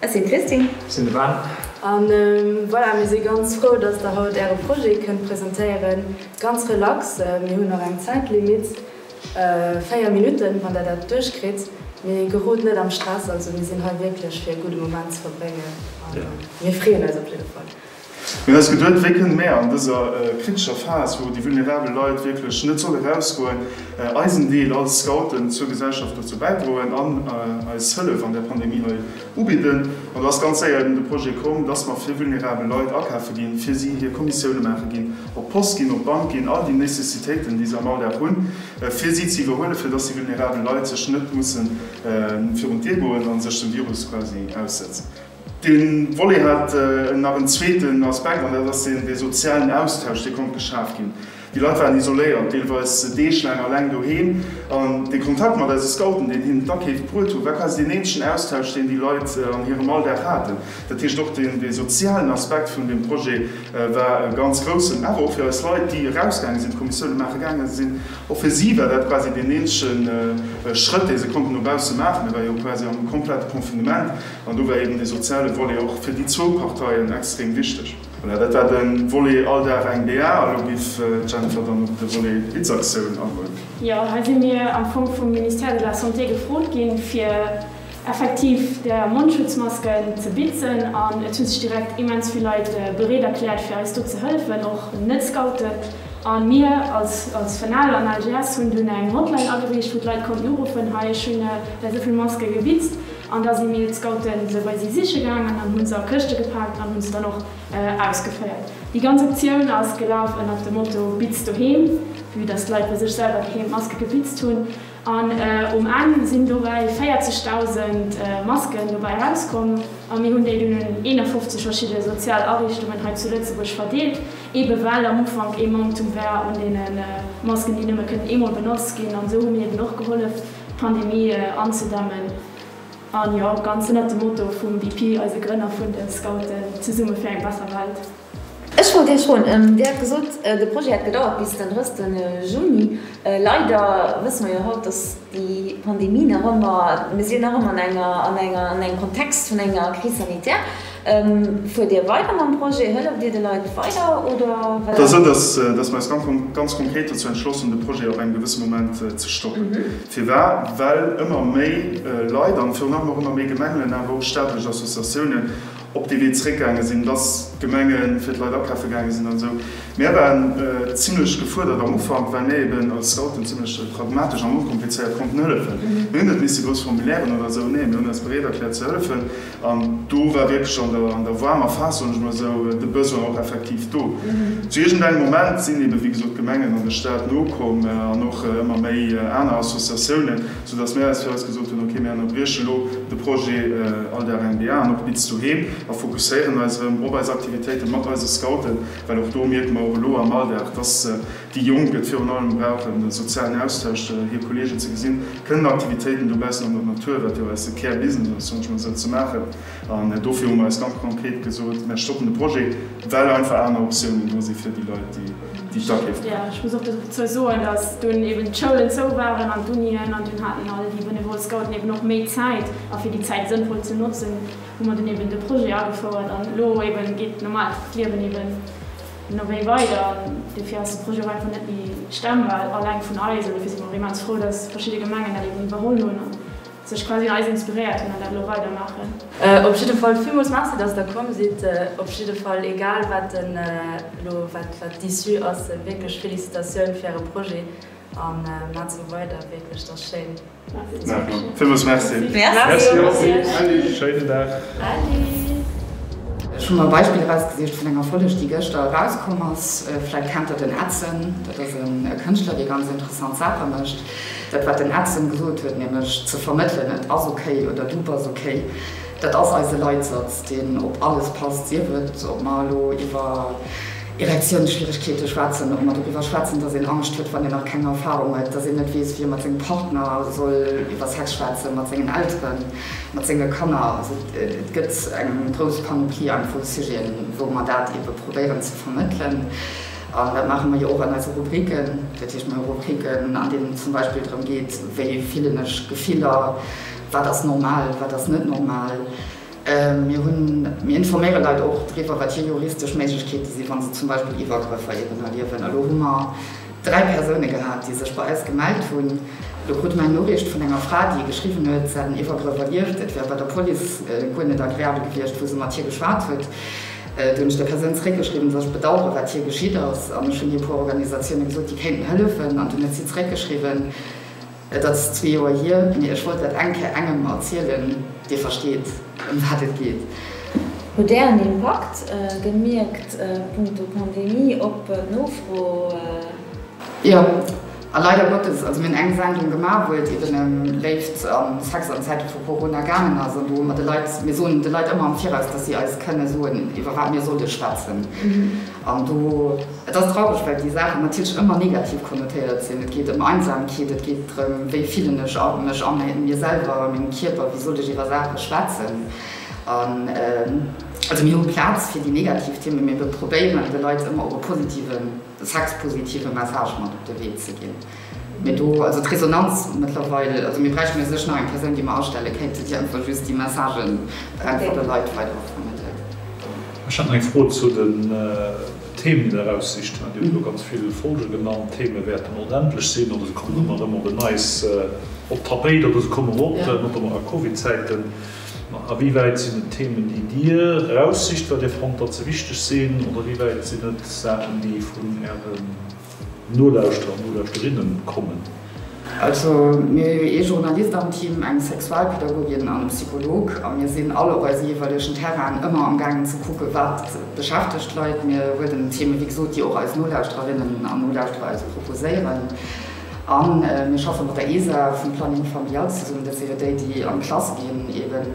Ech sinn d'Christine. Ech sinn de Ben. A voilà, mir si ganz frou, dass Der haut Äre Projet kënnt presentéieren. Ganz relax, mir hunn nach eng Zäitlimitt, véier Minutten, wann Der dat duerchkritt. Mee gerot net am Stress, also mir sinn hei wierklech fir e gudde Moment ze verbréngen a mir freeën eis op jidde Fall. Mee eis Gedueld wéi kënne mär an dëser kritescher Phas, wou déi vulnerabel Leit wierklech net solle rausgoen, eisen Deel als Scouten zur Gesellschaft dozou bäidroen an eis Hëllef an där Pandemie hei ubidden? An do ass ganz séier eben de Projet komm, dass mer fir vulnerabel Leit akafe ginn, fir si hir Kommissioune maache ginn, op d'Post ginn, op d'Bank ginn, all déi Nécessitéiten, déi se am Alldag hunn, fir si ze iwwerhuelen, fir dass déi vulnerabel Leit sech net musse virun d'Dir goen a sech dem Virus quasi aussetzen. Dee Volet hat nach en zweeten Aspekt, an dat ass deen, dee sozialen Austausch, dee konnt geschaf ginn. Déi Leit waren isoléiert, deelweis deeglaang eleng doheem, an de Kontakt mat eise Scouten, deen hinnen d'Akeef bruet hu war quasi deen eenzegen Austausch, deen déi Leit an hirem Alldag haten. Dat heescht, och dee sozialen Aspekt vun deem Projet war e ganz groussen. Awer och fir eis Leit, déi erausgaange sinn, d'Kommissioune maache gaange sinn, och fir si war dat quasi deen eenzege Schrëtt, dee se konnten no bausse maachen. Et war jo quasi am komplette Confinement. An do war eben dee soziale Volet och fir déi zwou Parteien extrem wichteg. Voilà, dat war de Volet All Dag eng BA. A lo giff d'Jennifer dann op de Volet Blitzaktiounen agoen. Jo, hei si mir am Fong vum Ministère de la Santé gefrot ginn, fir effektiv der Mondschutzmasken ze bitzen. An et hu sech direkt immens vill Leit bereet erkläert, fir eis do ze hëllefen, och Net-Scouten. A mir als als FNEL an LGS hunn dunn eng Hotline ageriicht, wou d'Leit konnten uruffen, Hei, ech hunn der esou vill Maske gebitzt. An da si mir, d'Scouten, se bei si siche gaangen an hu se a Këschte gepaakt an hu se dann och ausgeféiert. Déi ganz Aktioun ass gelaf ënnert dem Motto Bitz doheem, vue dass d'Leit bei sech selwer doheem d'Maske gebitzt hunn. An um Enn sinn dobäi 40.000 Masken dobäi erauskomm a mir hunn déi dunn un 51 verschidde sozial Ariichtungen hei zu Lëtzebuerg verdeelt, ebe well am Ufank ee Manktum war un deene Masken, déi nëmme kënnen eemol benotzt ginn. An esou hu mir eeben och gehollef. D'Pandemie anzedämmen, a jo, ganz ënnert dem Motto vum BP, eise Grënner vun de Scouten, Zesumme fir eng besser Welt. Ech wollt Iech froen, Dir hat gesot, de Projet hätt gedauert bis den 30 Juni. Leider wësse mer jo haut, dass déi Pandemie nach ëmmer, mir sinn nach ëmmer an enger, an engem Kontext vun enger Crise sanitaire. Fuert Dir weider mam Projet? Hëlleft Dir de Leit weider oder wat ass Äre Plang? Et ass esou, datt mer eis ganz konkret dozou entschloss hunn, de Projet op engem gewësse Moment ze stoppen. Firwat? Well ëmmer méi Leit an virun allem och ëmmer méi Gemengen, awer och staatlech Associatiounen op dee Wee zeréckgaange sinn, datt d'Gemenge fir d'Leit akafe gaange sinn an esou. Mär waren zimlech gefuerdert am Ufank, well mir eben als Scouten zimlech pragmatesch an onkomplizéiert konnten hëllefen. Mir hunn net misse grouss Formulairen oder esou, nee, mir hunn eis bereet erkläert ze hëllefen. An do war wierklech an der waarmer Phas, soen ech mol esou, de Besoin och effektiv do. Zu iergendengem Moment sinn eebe wéi gesot d'Gemengen an de Stat nokomm an och ëmmer méi aner Associatiounen, soudass mir eis fir eis gesot hunn, ok, mir ënnerbrieche lo de Projet Aldaar NDA an och Bitz Doheem a fokusséieren eis erëm op eis Aktivitéite mat eise Scouten, well och do mierke mer, och elo am Alldag, dass Déi Jonk, déi et virun allem brauchen, de sozialen Austausch, hir Kolleegen ze gesinn, kënnen Aktivitéiten dobaussen an der Natur, wat jo eise Kär Business ass, manchmal esou ze maachen. An dofir hu mer eis ganz konkret gesot, Mer stoppen de Projet, well einfach aner Optiounen do si fir déi Leit, déi d'Akeef maachen. Ech muss och dozou soen, dass dunn eben d'Schoulen zou waren an d'Unien an dunn haten all déi benevole Scouten eben och méi Zäit. A fir déi Zäit sënnvoll ze notzen, hu mer dunn eben de Projet agefouert an elo eben geet normal d'Liewen eben. No wéi weider? Dofir ass de Projet och einfach net méi stemmbar, alleng vun eis. An dofir si mer och immens frou, dass verschidde Gemengen dat eben iwwerholl hunn a sech quasi un eis inspiréiert hunn an dat elo weider maachen. Op jidde Fall villmools Merci, dass Der komm sidd. Op jidde Fall, egal wat den elo wat wat d'Issue ass, wierklech Félicitatioun fir Äre Projet a maacht esou weider. Wierklech, dat ass schéin. Villmools Merci. Merci. Merci. Schéinen Dag. Ech hu mer Beispiller erausgesicht vun enger Folleg, déi gëschter erauskomm ass. Vläicht kennt Der den Edson. Dat ass e Kënschtler, dee ganz interessant Saache mécht. Dat, wat den Edson gesot huet, nämlech ze vermëttelen, et ass okay oder du bass okay, dat ass eise Leitsatz, deen op alles passt, sief et, ob mer elo iwwer Erektiounsschwieregkeete schwätzen, och mat doriwwer schwätzen, datt een Angscht huet, wann een nach keng Erfarung huet, datt een net weess, wéi ee mat sengem Partner soll iwwer Sex schwätzen, mat sengen Elteren, mat senge Kanner. Also et gëtt eng grouss Panoplie an vu Sujeten, wou mer dat eebe probéieren ze vermëttelen. An dat maache mer jo och an eise Rubriken. Dat heescht, mer hu Rubriken, an deenen et zum Beispill drëm geet, wéi fillen ech Gefiller, wat ass normal, wat ass net normal. Mir informéiere Leit och driwwer, wat hir juristesch Méiglechkeete sinn, wa se zum Beispill Iwwergrëffer eben erliewen. Elo hu mer dräi Persoune gehat, déi sech bei eis gemellt hunn. Elo krute mer eng Noriicht vun enger Fra, déi geschriwwen huet, si hat en Iwwergrëff erlieft, et wär bei der Police guer net agreabel gewiescht, wou se mat hir geschwat huet. Du hunn ech där Persoun zeréckgeschriwwen, dass ech bedauere wat hir geschitt ass. An ech hunn hir e puer Organisatioune gesot, déi kéinten hëllefen. An dunn huet si zeréckgeschriwwen, Et ass zwee Joer hier, mee ech wollt dat eng Kéier engem erzielen, dee versteet, ëm wat et geet. Hutt Där en Impakt gemierkt punkto Pandemie op d'Nofro? Jo, a leider Gottes. Also mir hunn eng Sendung gemaach, wou et eben ëm Léift a Sex an Zäite vu Corona gaangen ass, an do hu mer de Leit, mir soen de Leit ëmmer am Viraus, dass si eis kënne soen, iwwer wat mir solle schwätzen. An do, et ass traureg, well déi Saachen natierlech ëmmer negativ konnotéiert sinn. Et geet ëm Einsamkeet, et geet drëm, wéi fillen ech mech a mir selwer, a mengem Kierper, wéi sollt ech iwwer Saache schwätzen. An also mir hu Plaz fir déi negativ Themen, mee mir probéieren de Leit ëmmer och e positiven, e sexpositive Message mat op de Wee ze ginn. Mee do, also d'Resonanz mëttlerweil, also mir bräichten jo sech nach eng Persoun, déi mer astelle kéinten, déi einfach just déi Messagen einfach de Leit weider vermëttelt. Ech hat nach eng Fro zu den Themen, déi Der eraussicht hutt. Dir hutt elo ganz vill Folge genannt. D'Theme wäerten onendlech sinn oder se kommen ëmmer erëm op en Neits op d'Tapéit oder se kommen erop, notamment a Covid-Zäiten. Ma awéiwäit sinn et Themen, déi Dir eraussicht, well Dir fannt, datt se wichteg sinn, oder ewéiwäit sinn et Saachen, déi vun Äre. Nolauschterer an Nolauschterinnen kommen. Also mir hu jo ee Journalist am Team, eng Sexualpedagogin an e Psycholog a mir sinn all op eise jeeweilegen Terrainen ëmmer am gaangen ze kucken, wat beschäftegt d'Leit. Mir huelen Themen, wéi gesot, déi och eis Nolauschtererinnen an Nolauschterer eis proposéieren a mir schaffe mat der ESA vum Planning Familial zesummen. Dat si jo déi, déi an d'Klass ginn eben.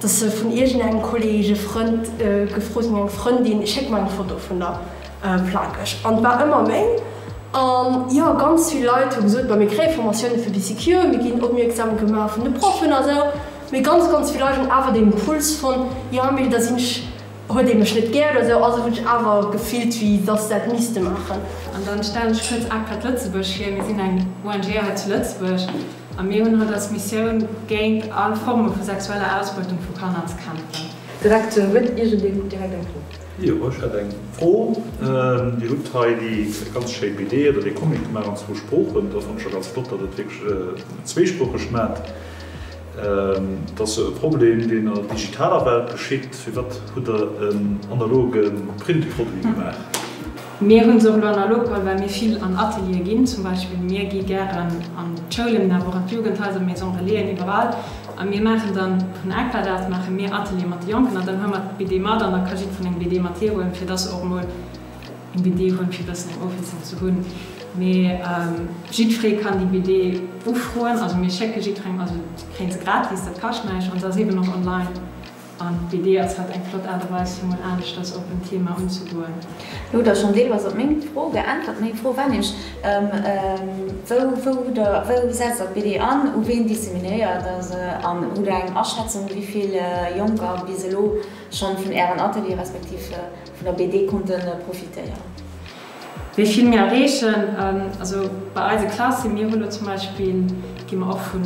Dass se vun iergend engem Kolleg, e Frënd, e Gefrosen, eng Frëndin, Schéck mer eng Foto vun der Plakeg. An et war ëmmer méi. An jo, ganz vill Leit hu gesot, ma mir kréie Formatioune fir BCQ, mir ginn opmierksam gemaach vun de Proffen a sou. Mee ganz, ganz vill Leit hunn awer deen Impuls fonnt, jo, mee da sinn ech, huet ee mech net gär oder sou, also hunn ech awer gefillt, wéi dass se dat misste maachen. An dann stellen ech kuerz ACTAD Lëtzebuerg vir. Mir sinn eng ONG hei zu Lëtzebuerg, A mir hunn haut als Missioun, géint all Forme vu sexueller Ausbeutung vu Kanner ze kämpfen. Direktioun, huet iergendee vun direkt eng Fro? Jo, ech hätt eng Fro. Dir hutt hei déi ganz schéi BD oder dee Comic gemaach an zwou Sproochen. Dat fannt ech scho ganz flott, datt et wierklech zweesproocheg maat. Dat ass jo e Problem, deen an der digitaler Welt geschitt. Firwat hutt Der en analoge Printproduit gemaach? Mir hunn se och elo an der Locale, well mir vill an Ateliere ginn. Zum Beispill mir gi gären an d'Schoulen, mä och an d'Jugendhaiser, Maison Relaisen, iwwerall. A mir maachen dann vun Aquadat maache mir Ateliere mat de Jonken an dann huele mer d'BD mat an da ka jiddeferen eng BD mat heem huelen, fir dass se och emol eng BD hunn, fir e bëssen eng Ofwiesslung ze hunn. Mä jiddferee kann déi BD ufroen. Also mir schécke jiddferengem, also kréie se gratis, dat kascht näischt an se ass eeben och online. An d'Idee ass hat eng flott Aart a Weis fir mol aneschters op en Thema unzegoen. Lo hutt der schonn deelweis op meng Fro geäntwert. Meng Fro war nämlech, Wou setzt der d'BD an? U ween disseminéiert der se? An hutt der eng Aschätzung, wéi vill Jonker bis elo schonn vun Ären Ateliere respektiv vun der BD konnte profitéieren? Wéi vill mir erreechen? Also bei eise Klasse, mir hu lo zum Beispill, gi mer och vun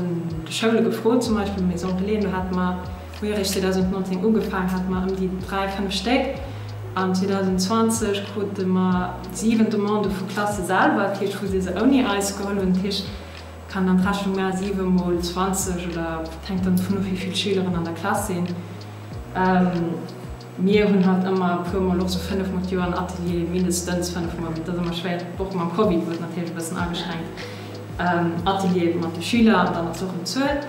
de Schoule gefrot, zum Beispill Maison Relais, do hate mer, Wéi eréischt 2019 ugefaangen, hate mer ëm déi dräi, fënnef Stéck an 2020 krute mer siwen Demandë vu Klasse selwer, dat heescht wou si se ouni eis geholl hunn. Dat heescht, kann dann d'Rechnung maachen, siwe mol zwanzeg oder, et hänkt dann dovun of wéi vill Schüleren an der Klass sinn. Mir hunn hatt ëmmer e puer mol och sou fënnef mol d'Joer en Atelier, mindestens fënnef mol, mee et ass ëmmer schwéier, och mam Covid, wou et natierlech e bëssen ageschränkt, Ateliere mat de Schüler an dann ass och en Zuel.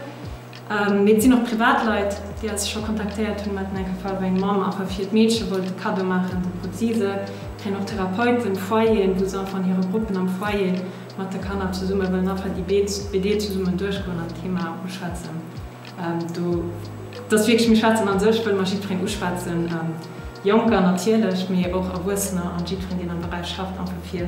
Mee et sinn och privat Leit, déi eis scho kontaktéiert hunn. Mer haten eng Fall, wou eng Mamm einfach hiert Meedche wollt e Kaddo maachen. Do krut si se. Et kéint och Therapeuten, Foyeren, wou se einfach an hire Gruppen am Foyer mat de Kanner zesumme wëllen einfach déi BD zesummen duerchgoen an d'Thema uschwätzen. Do, et ass wierklech, mir schwätzen an sech, wëlle mer jiddwereen uschwätzen, Jonker natierlech, mee och Erwuessener an jiddwereen, deen am Beräich schafft, einfach fir,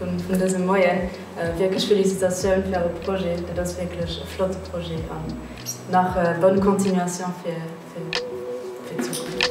Vun dësem Moien wierklech Félicitatioun fir Äre Projet. Et ass wierklech e flotte Projet an nach bonne continuation fir d'Zukunft.